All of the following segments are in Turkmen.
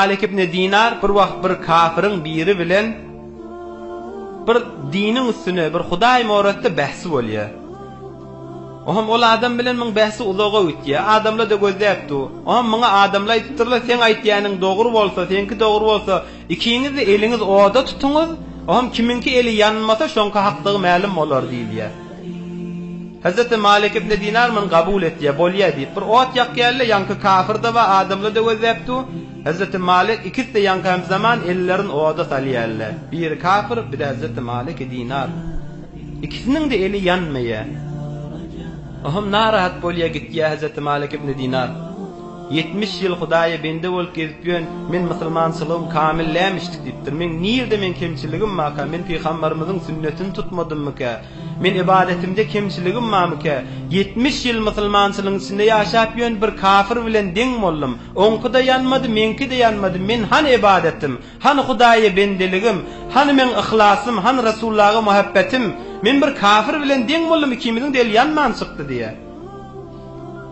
Malik ibn Dinar bir wagt bir kafirin biri bilen bir diniň üstüne bir Hudaý moratda bähsi bolýa. Ohm ol adam bilen muň bähsi uzaga ütýä. Adamla da gözläp du. Ohm muňa adamla aýdypdyrla seň aýtýäniň dogry bolsa, seňki dogry bolsa, ikiňiz de eliňiz oda tutuňyz, ohm kimiňki eli ýanmasa şoňki hakdygy mälim bolar diýilýä. Hezreti Malik ibn Dinar muny kabul etýär, bolýar diýip, bir ot ýakýarlar, ýaňky kafir-de bar, adamlar-da gözläp dur. Hezreti Malik ikisi-de ýaňky hemzaman ellerini oda salýarlar. Biri kafir, biri hezreti Maliki Dinar. Ikisiniň-de eli ýanmaýar. O hem narahat bolýar, gitýär hezreti Malik ibn Dinar. Ýetmiş ýyl Hudaýa bende bolup gezip ýön, men musulmançylygym kamyl lämişdik diýipdir. Meň nirde meň kemçiligim barka, men pygambarymyzyň sünnetini tutmadymmykä? Men ybadetimde kemçiligim barmykä? Ýetmiş ýyl musulmançylygyň içinde ýaşap ýön bir kafir bilen deň boldum. Oňkyda ýanmady, meňkide ýanmady, men hany ybadetim? Hany Hudaýa bendeligim? Hany meň yhlasym, hany Resullaga muhabbetim? Men bir kafir bilen deň boldum, ikimiziň-de eli ýanman çykdy diýýär.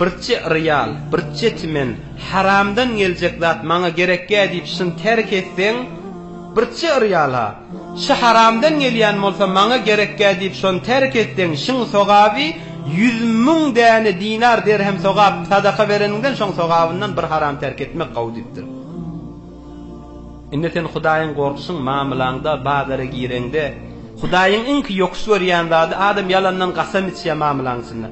Birçe real, birçe timen haramdan geljek zat maňa gerekýä diýip şyny terk etseň, birçe real-a, şy haramdan gelýän bolsa maňa gerekýä diýip şony terk etseň, şyň sogaby ýüz müň däne dinar, derhem sogap, sadaka bereniňden şoň sogabyndan bir haram terk etmek gowy diýipdir. Indi sen Hudaýyň gorkuşyň mamylaňda, bazara gireňde, Hudaýyň iňki ýokuş görýän zady, adam ýalandan gasam içýä mamylaň içinde.